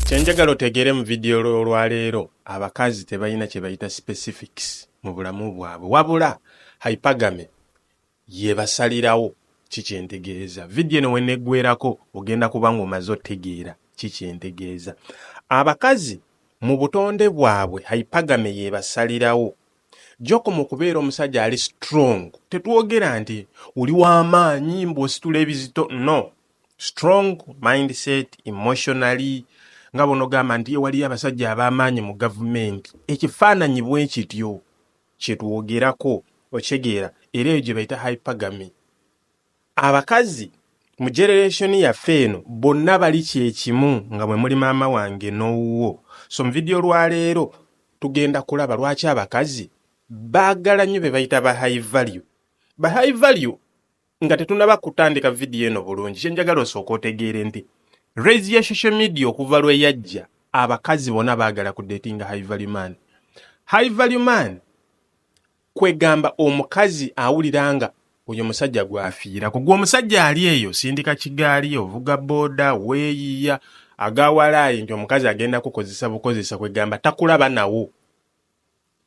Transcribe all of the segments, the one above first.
kyenjagala otegeere mu vidiyo olwaleero abakazi tebalina kyebayita specifics mu bulamu bwabwe wabula hypagame yebasalirawo kikyentegeeza vidiyo eno weneggwerako ogenda kuba nga omaze otegeera kikyentegeeza abakazi mu butonde bwabwe hypagame yebasalirawo gyokoma okubeera omusajja ali strong tetwogera nti oli w'amaanyi mbwositula ebizito no strong mindset emotionally nga bwonogamba nti waliyo abasajja ab'amaanyi mu gavumenti ekifaananyi bwe kityo kyetwogerako okitegeera era eyo gye bayita hypergamy abakazi mu generation yaffe eno bonna bali kyekimu nga mwe muli maama wange n'owuwo so mu vidiyo lwaleero tugenda kulaba lwaki abakazi baagala nnyo be bayita ba high value ba high value nga tetunaba kutandika vidiyo eno bulungi kyenjagala osooka otegeere nti raise ya social media okuva lwe yajja abakazi bona baagala ku datinga high value man high value man kwegamba omukazi awulira nga oyo musajja gwafiira ku gwe omusajja ali eyo sindika kigaali ovuga booda weeyiya agawalaayi nti omukazi agenda kukozesa bukozesa kwegamba takulaba nawo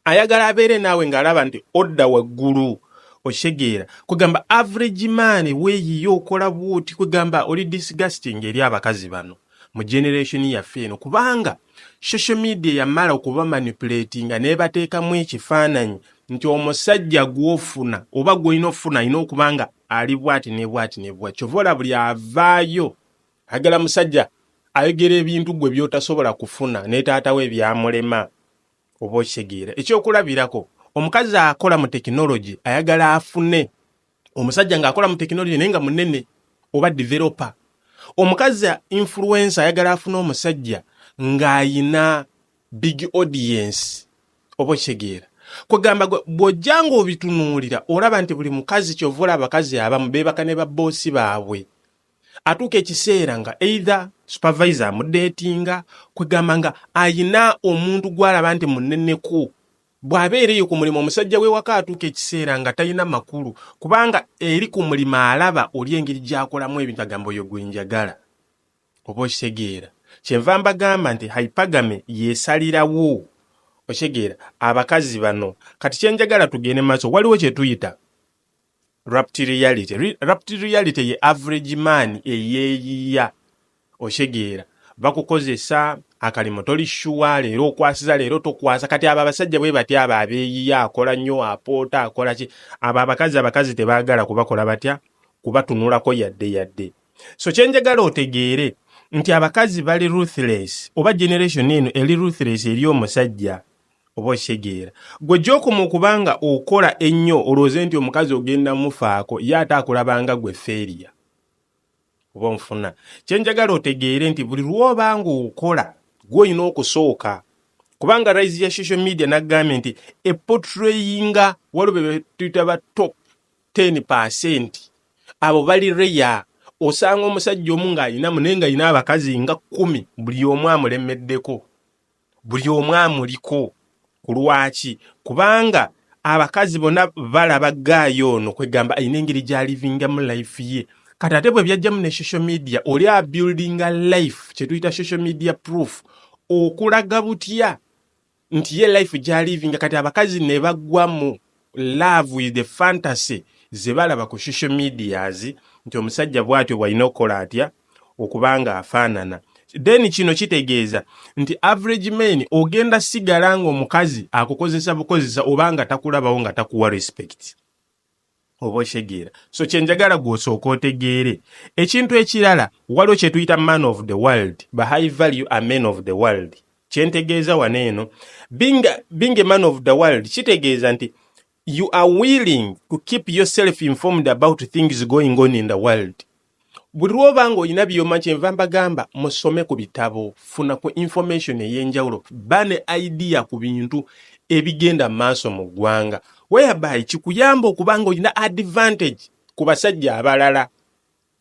ayagala abeere naawe ng'alaba nti odda waggulu okitegeera kwegamba average man weeyiyo okola bwoti kwegamba oli disgusting eri abakazi bano mu generation yaffe eno kubanga social media yamala okuba manipulatinga nebateekamu ekifaananyi nti omusajja gwofuna oba gwolina okufuna alina okuba nga ali bwati ne bwati ne bwati kyova ola buli avaayo agala musajja ayogera ebintu gwe byotasobola kufuna ne taatawo ebyamulema oba okitegeera ekyokulabirako omukazi akola mu tekinologi ayagala afune omusajja ng'akola mu tekinologi naye nga munene oba developer omukazi influensa ayagala afune omusajja ng'ayina big audience oba okitegeera kwegamba bw'ojja ng'obitunuulira olaba nti buli mukazi kyova olaba abakazi abamu beebaka ne babboosi baabwe atuuka ekiseera nga either supervisor amudeetinga kwegamba nga ayina omuntu gwalaba nti muneneko bw'abeera eyo ku mulimu omusajja w'ewaka atuuka ekiseera nga talina makulu kubanga eri ku mulimu alaba oli engeri gy'akolamu ebintu agamba oyo gwe njagala oba okitegeera kyenva mbagamba nti hypagame yeesalirawo okitegeera abakazi bano kati kye njagala tugende maaso waliwo kye tuyita Rapti reality. Re rapti reality ye average man eyeyiya oshegera bakukozesa akalimo toli shuwa leero okwasiza leero tokwasa kati abo abasajja bwe batya abo abeyiya akola nnyo apoota akola ki abo abakazi abakazi tebagala kubakola batya kubatunulako yadde yadde so kyenjagala otegeere nti abakazi bali ruthless oba generation eno eli ruthless eri omusajja oba okitegeera gwe gyokoma okuba nga okola ennyo olwooze nti omukazi ogenda mufaako ye ate akulabanga gwe feeriya oba onfuna kyenjagala otegeere nti buli lwoba nga okola gwe olina okusooka kubanga rise ya social media nagambye nti epotrayinga waliwo bebetuyita ba top 10 percent abo bali reya osanga omusajja omu ng'alinamu naye nga alina abakazi nga kkumi buli omu amulemeddeko buli omu amuliko ku lwaki kubanga abakazi bona balaba gaayo ono kwegamba alina engeri gyalivingamu life ye kati ate bwe byajjamu ne social media oli abuildinga life kyetuyita social media proof okulaga butya nti ye life gyalivinga kati abakazi ne bagwamu love with the fantasy zebalaba ku social medias nti omusajja bwatyo bwalina okukola atya okuba nga afaanana then kino kitegeeza nti average men ogenda sigala nga omukazi akukozesa bukozesa oba nga takulabawo nga takuwa respect oba okitegeera so kyenjagala gwosooka otegeere ekintu ekirala waliwo kyetuyita man of the world ba high value a men of the world kyentegeeza wano eno being, being a man of the world kitegeeza nti you are willing to keep yourself informed about things going on in the world buli lwoba nga olina byoma kyenva mbagamba musome ku bitabo funa ku information eyenjawulo ba ne idea ku bintu ebigenda mu maaso mu ggwanga whereby kikuyamba okuba nga olina advantage ku basajja abalala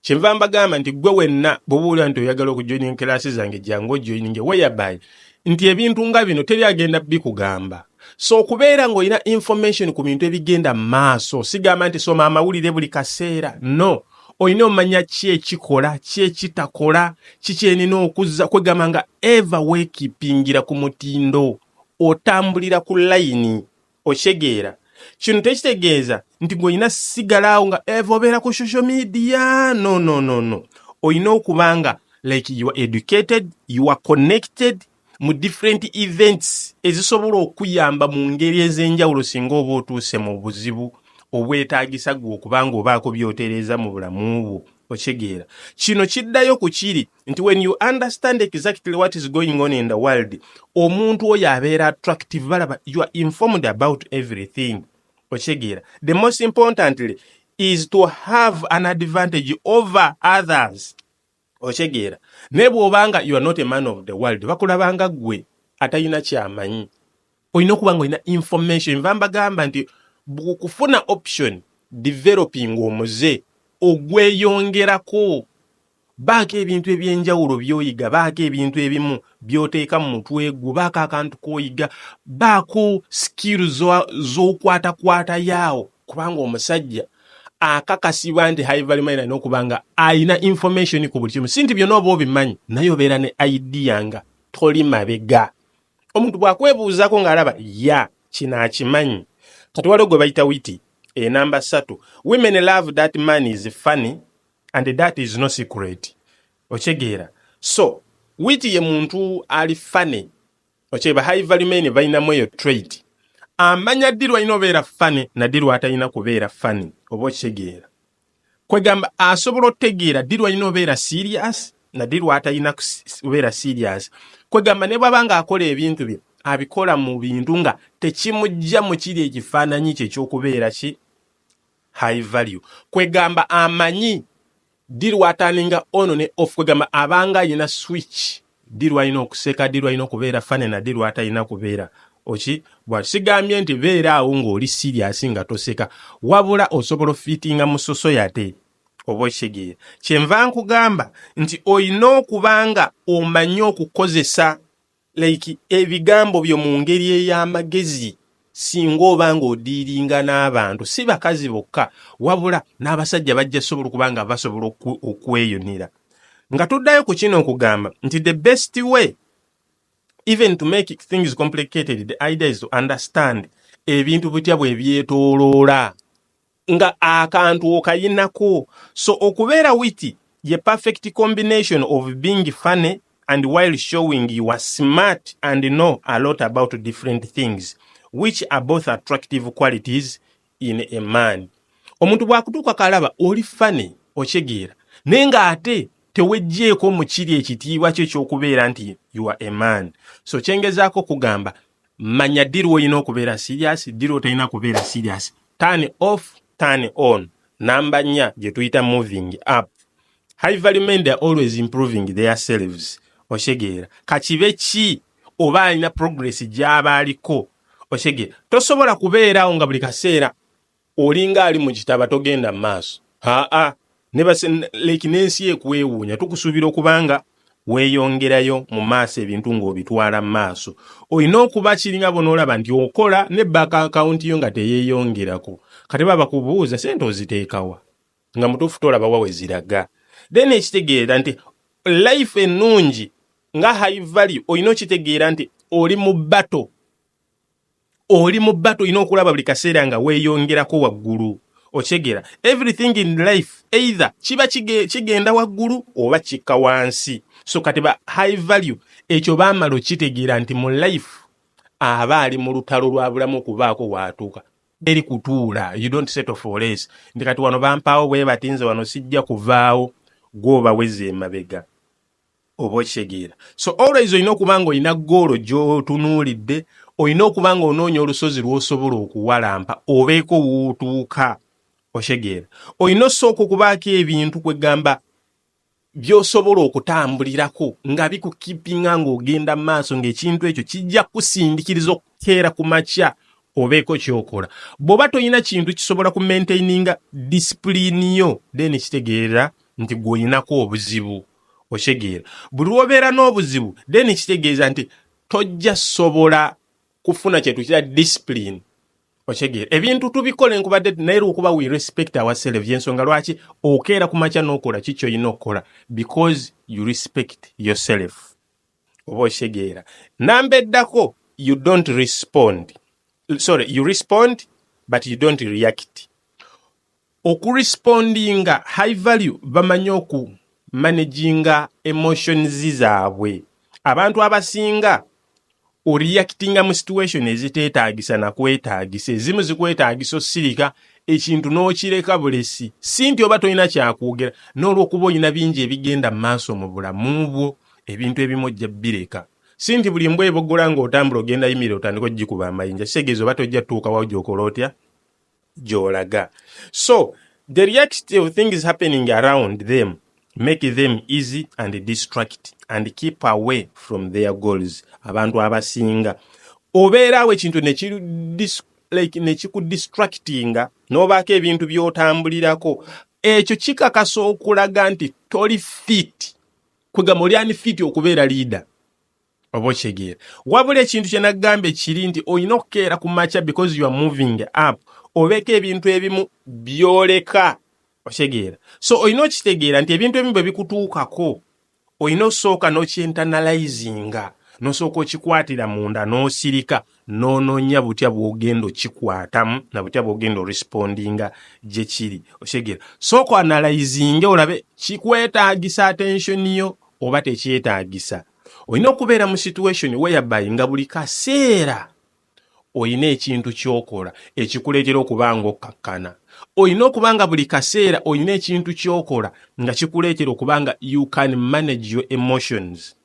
kyenva mbagamba nti gwe wenna bwobuulira nti oyagala okujoining kelaasi zange jangu ojoininge weyabay nti ebintu nga bino teri agenda bikugamba so okubeera ng'olina information ku bintu ebigenda mu maaso sigamba nti soma amawulire buli kaseera no olina omanya ki ekikola ki ekitakola kikyenina okuzza kwegamba nga eva weekipingira ku mutindo otambulira ku layini okitegeera kino tekitegeeza nti ng'olina sigalaawo nga eva obeera ku social media no no no no olina okuba nga like you are educated you are connected mu different events ezisobola okuyamba mu ngeri ez'enjawulo singa oba otuuse mu buzibu obwetaagisa gwe okuba ng'obaako by'otereeza mu bulamu bwo okitegeera kino kiddayo ku kiri nti when you understand exactly what is going on in the world omuntu oyo abeera attractive balaba you are informed about everything okitegeera the most importantly is to have an advantage over others okitegeera naye bw'oba nga you are not a man of the world bakulaba nga ggwe atalina kyamanyi olina okuba nga olina information nva mbagamba nti kufuna option developing omuze ogweyongerako Baako ebintu eby'enjawulo by'oyiga, baako ebintu ebimu by'oteeka mu mutwe gwo, baako akantu k'oyiga, baako sikiiru z'okwatakwata yaawo kubanga omusajja akakasibwa nti high value mine alina okuba nga alina information ku buli kimu si nti byonna oba obimanyi naye obeera ne idea nga toli mabega omuntu bw'akwebuuzaako ng'alaba ya kino akimanyi kati waliwo gwe bayita witi enamba ssatu women love that man is funny and that is no secret okyegeera so witi ye muntu ali fane okyeba high value men balinamu eyo trade amanya ddi lwalina obeera fane naddi lwatalina kubeera fane oba okitegeera kwegamba asobola otegeera ddi lwalina obeera serious naddi lwatalina kubeera serious kwegamba ne bwaba nga akola ebintu bye abikola mu bintu nga tekimujja mu kiri ekifaananyi kye ekyokubeera ki high value kwegamba amanyi ddi lwataninga ono ne off kwegamba abanga ayina switch ddi lwalina okuseka ddi lwalina okubeera fane na ddi lwatalina kubeera oki bwa sigambye nti beera awo ng'oli siriasi nga toseka wabula osobola ofitinga mu sosoyate oba okitegeera kyenva nkugamba nti olina okuba nga omanyi okukozesa like ebigambo byo mu ngeri ey'amagezi singa oba ng'odiiringa n'abantu si bakazi bokka wabula n'abasajja bajja sobola okuba nga basobola okweyunira nga tuddayo ku kino okugamba nti the best way even to make things complicated the idea is to understand ebintu bitya bwe byetoloola nga akantu okayinako so okubeera witi ye perfect combination of being funny and while showing you are smart and know a lot about different things which are both attractive qualities in a man omuntu bwakutuuka kalaba oli funny okyegeera naye nga ate tewejjeeko mukiri ekitiibwa kyo kyokubeera nti you are a man so kyengezaako okugamba manya ddi lwolina okubeera serious ddi lwotolina kubeera serious turn off turn on namba nnya gye tuyita moving up high value men they are always improving their selves osegeera kakibe ki oba alina progress gyaba aliko osegeera tosobola kubeeraawo nga buli kaseera olinga ali mu kitaba togenda mu maaso aa leki n'ensi ekwewuunya tukusuubira okubanga weeyongerayo mu maaso ebintu ng'obitwala mu maaso olina okuba kiringa bonaolaba nti okola ne baka akawunti yo nga teyeeyongerako kati baba bakubuuza sente oziteekawa nga mutuufu tolaba wawe ziraga then ekitegeera nti life ennungi nga high value olina okitegeera nti oli mu bato oli mu bato olina okulaba buli kaseera nga weeyongerako waggulu okyegera everything in life either kiba kigenda waggulu oba kikka wansi so kati ba high value ekyo baamala okitegeera nti mu life aba ali mu lutalo lwa bulamu okubaako waatuuka eri kutuula you don't settle for less nti kati wano bampaawo bwe bati nze wano sijja kuvaawo gw'obaweza emabega oba okitegeera so always olina okuba nga olina goolo gyotunuulidde olina okuba nga onoonya olusozi lwosobola okuwalampa obeeko wootuuka okitegeera olina osooka okubaako ebintu kwegamba byosobola okutambulirako nga bikukipinga ngaogenda maaso ngaekintu ekyo kijja kusindikiriza teera ku makya obeeko kyokola bwoba tolina kintu kisobola ku maintaininga disipulini yo then kitegeera nti gwolinako obuzibu okitegeera buli lwobeera n'obuzibu then kitegeeza nti tojja sobola kufuna kyetuyitira disipulini okitegeera ebintu tubikola enkubadde naye lwokuba we respect ourselves yensonga lwaki okeera ku makya n'okola ki kyolina okukola because you respect yourself oba okitegeera namba eddako you don't respond sorry you respond but you don't react okurespondinga high value bamanyi oku managinga emotions zaabwe abantu abasinga oreactinga mu situation eziteetaagisa nakwetaagisa ezimu zikwetaagisa osirika ekintu n'okireka bulesi si nti oba tolina kyakwogera n'olwokuba olina bingi ebigenda mu maaso mu bulamu bwo ebintu ebimu ojja bireka si nti buli mbwa ebogola ng'otambula ogenda yimira otandika ogikuba amayinja kitegeeza oba tojja tutuukawawo gyokola otya gyolaga so the reality of things happening around them make them easy and distract and keep away from their goals abantu abasinga obeeraawo ekintu like nekikudistractinga n'obaako ebintu by'otambulirako ekyo kikakasa okulaga nti toli fit kwegamba oli ani fiti okubeera liida oba okyegeera wabula ekintu kyenagamba ekiri nti olina okukeera ku makya because you are moving up obeeko ebintu ebimu byoleka okyegeera so olina okitegeera nti ebintu ebimu bwe bikutuukako olina okusooka n'okyentanalyzinga nosooka okikwatira munda n'osirika nononya butya bwogenda okikwatamu na butya bwogenda orespondinga gyekiri okitegera sooka analayizinge olabe kikwetagisa attention yo oba tekyetagisa olina okubeera mu situation whereby nga buli kaseera olina ekintu kyokola ekikuleetera okuba nga okkakkana olina okuba nga buli kaseera olina ekintu kyokola nga kikuleetera okuba nga you can manage your emotions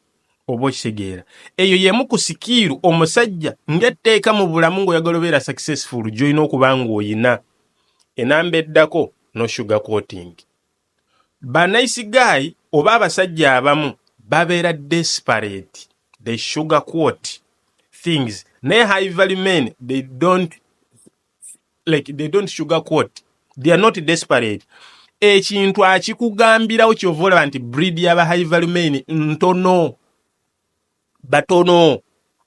oba okitegeera eyo yemu ku sikiiru omusajja ng'etteeka mu bulamu ng'oyagala obeera successful gy'olina okuba ng'oyina enamba eddako no sugar coating ba nice guy oba abasajja abamu babeera desperate they sugar coat things naye high value men they don't like they don't sugar coat they are not desperate ekintu akikugambirawo kyova olaba nti breed yaba high value main ntono batono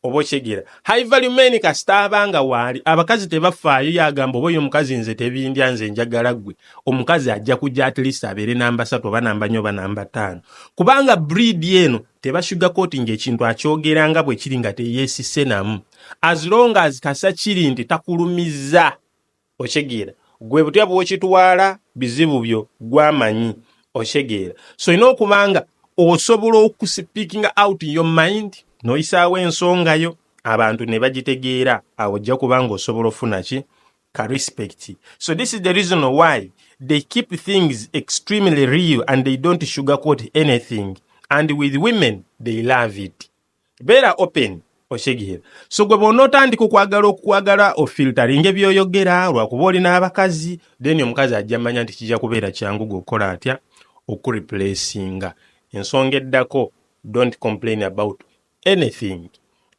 oba okyegera high value main kasita abanga waali abakazi tebafaayo yagamba oba oyo omukazi nze tebindya nze njagala gwe omukazi ajja kujja at least abeere namba satu oba namba nyo oba namba taano kubanga breed eno tebashuga koti ngaekintu akyogera nga bwekiri nga teyesise namu as long as kasa kiri nti takulumiza okyegeera gwe butya bwokitwala bizibu byo gwamanyi okyegeera so olina okuba nga osobola okusipikinga out your mind noyisaawo ensonga yo abantu ne bagitegeera awo ojja kuba nga osobola ofuna ki ka respect so this is the reason why they keep things extremely real and they don't sugarcoat anything and with women they love it beera open okitegeera so gwe bwonootandika okwagala okukwagala ofiltaringe byoyogera lwakuba oli n'abakazi then omukazi ajja manya nti kijja kubeera kyangu gwe okukola atya okureplacinga ensonga eddako don't complain about anything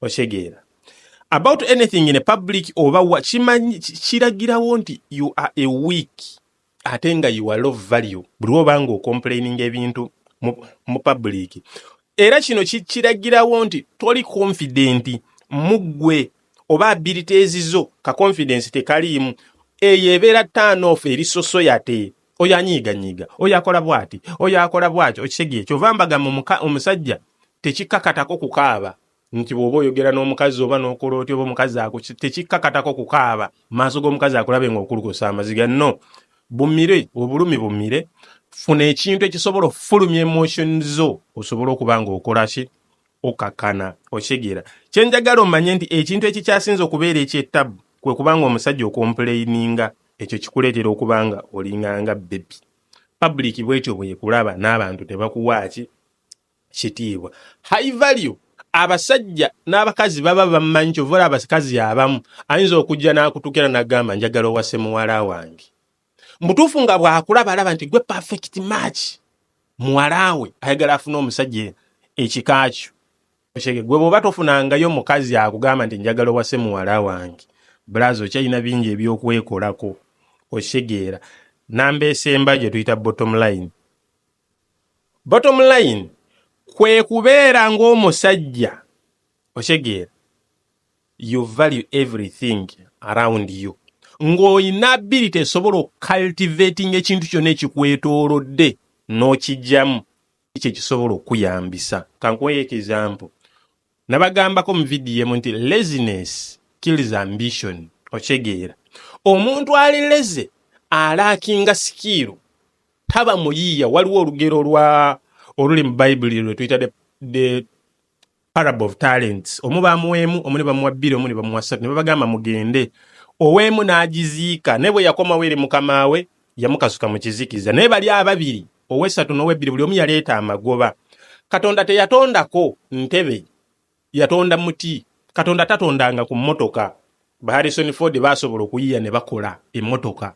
okitegeera about anything in a public oba wa kiragirawo nti you are a weak ate nga you are low value buli oba nga ocomplaining ebintu mu, mu public era kino kikiragirawo nti toli confident muggwe oba abilities zo ka confidence tekaliimu eyo ebeera turn off eri sosoyate oyo anyiiganyiiga oyo akola bwati oyo akola bwati okitegeera kyova mbaga omusajja tekikakatako kukaaba nti bw'oba oyogera n'omukazi oba n'okola otya oba omukazi ako tekikkakatako kukaaba maaso g'omukazi akulabe ng'okulukusa amaziga no bumire obulumi bumire funa ekintu ekisobola okufulumya emotion zo osobole okuba ng'okola ki okakana okitegeera kye njagala omanye nti ekintu ekikyasinze okubeera ekyettabu kwe kubanga omusajja okompulayininga ekyo kikuleetera okuba nga olinganga bebi public bwetyo bwekulaba n'abantu tebakuwaaki kitiibwa high value abasajja n'abakazi baba bamanyi kyova olaba abakazi abamu ayinza okujja n'akutukira n'agamba njagala owase muwala wange mubutuufu nga bw'akulaba alaba nti gwe perfect match muwala we ayagala afuna omusajja ekika kyo okyege gwe bw'oba tofunangayo omukazi akugamba nti njagala owase muwala wange bulazi okyalina bingi eby'okwekolako okitegeera namba esemba gye tuyita bottom line bottom line kwe kubeera ng'omusajja okitegeera you value everything around you ng'olina ability esobola okucultivating ekintu kyonna ekikwetoolodde n'okijjamu ekyo ekisobola okuyambisa kankuweyo ekizampo Nabagambako mu video emu nti laziness kills ambition. Okitegeera. Omuntu ali leze alaakinga sikiiru taba muyiiya. Waliwo olugero lwa oluli mu Bayibuli lwe tuyita the, the parable of talents. Omu bamuwa emu, omu ne bamuwa bbiri, omu ne bamuwa ssatu, ne babagamba mugende. Ow'emu n'agiziika, naye bwe yakomawo eri mukama we yamukasuka mu kizikiza. Naye bali ababiri ow'essatu n'ow'ebbiri buli omu yaleeta amagoba katonda teyatondako ntebe yatonda muti katonda tatondanga ku mmotoka baharrison ford baasobola okuyiya ne bakola emmotoka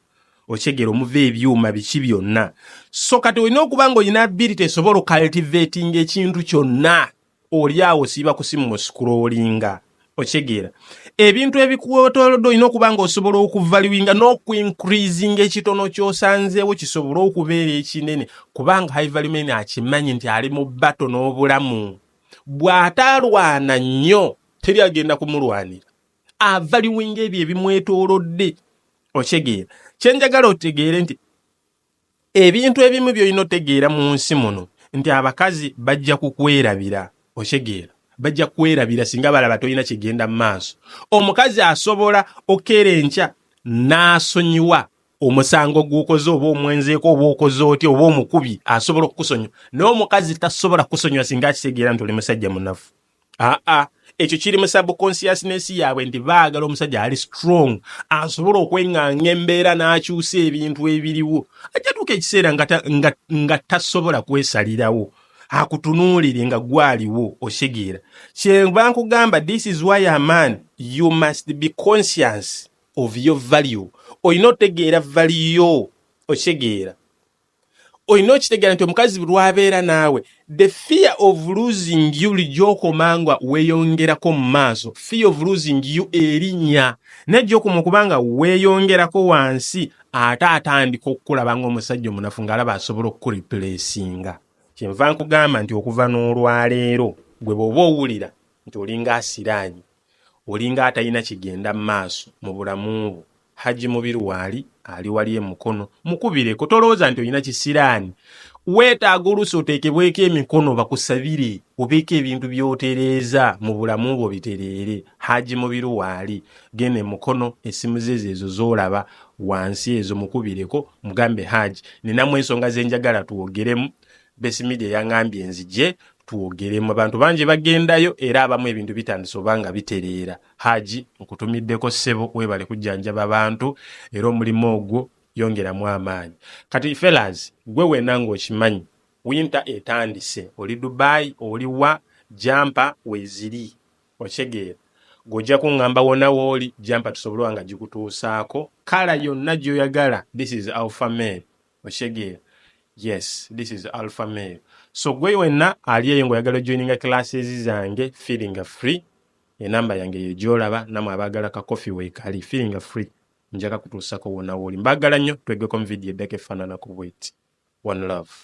okyegera omuva ebyuma biki byonna so kati olina okuba nga olina ability esobola okaltivatinga ekintu kyonna oli awo siiba kusimu mu scrollinga okitegeera ebintu ebikuwetolodde olina okuba nga osobola okuvaluinga n'okuincreasinga ekitono kyosanzeewo kisobole okubeera ekinene kubanga hivalumen akimanyi nti ali mu bato n'obulamu bw'atalwana nnyo teri agenda kumulwanira avaluinga ebyo ebimwetolodde okitegeera kyenjagala otegeere nti ebintu ebimu by'olina otegeera mu nsi muno nti abakazi bajja kukwerabira okitegeera bajja kukwerabira singa balaba tolina kigenda mu maaso omukazi asobola okeera enkya n'asonyiwa omusango gw'okoze oba omwenzeeko oba okoze oti oba omukubi asobola okukusonyiwa naye omukazi tasobola kukusonyiwa singa akitegeera nti oli musajja munafu aa ah, ah. ekyo kiri mu subconsciousness yaabwe nti baagala omusajja ali strong asobola okweŋŋanga embeera n'akyusa ebintu ebiriwo ajatuuka ekiseera nga tasobola kwesalirawo akutunuulire nga gwaliwo osegeera kyemba nkugamba this is why a man you must be conscious of your value olina otegeera valiyo osegeera olina okitegeera nti omukazi lwabeera naawe the fear of losing you bulijjo okoma nga weyongerako mu maaso fear of losing you erinya naye gyokoma okuba nga weyongerako wansi ate atandika okukulaba nga omusajja omunafu ngaalaba asobola okukureplacinga kyenva nkugamba nti okuva n'olwaleero gwe bwoba owulira nti olinga asiraanyi olinga atalina kigenda maaso mubulamu bwo Hajji Mubiru waali ali wali e Mukono mukubireko tolowooza nti olina kisiraani weetaaga oluusi oteekebweko emikono bakusabire obeeko ebintu byotereeza mu bulamu bwo bitereere Hajji Mubiru waali genda e Mukono essimu ze zeezo z'olaba wansi ezo mukubireko mugambe Hajji ninamu ensonga ze njagala twogeremu Base Media yangambye nzije twogeremu abantu bangi bagendayo era abamu ebintu bitandise oba nga bitereera haji nkutumiddeko ssebo webale kujjanjaba abantu era omulimu ogwo yongeramu amaanyi kati felas gwe wena ng'okimanyi winter etandise oli dubai oli wa jampa weziri okitegeera gojja kuŋŋamba wona wooli jampa tusobole oba nga gikutuusaako kala yonna gy'oyagala this is alpha man okitegeera yes this is alpha male so gwe wenna ali eyo ngaoyagala ojoininga classes zange feelinga free enamba yange eyo gyolaba namwe abaagala ka coffee weekali feelinga free njaga kutuusako wona wooli mbaagala nnyo twegeko mu vidiyo eddako efaananako bweti one love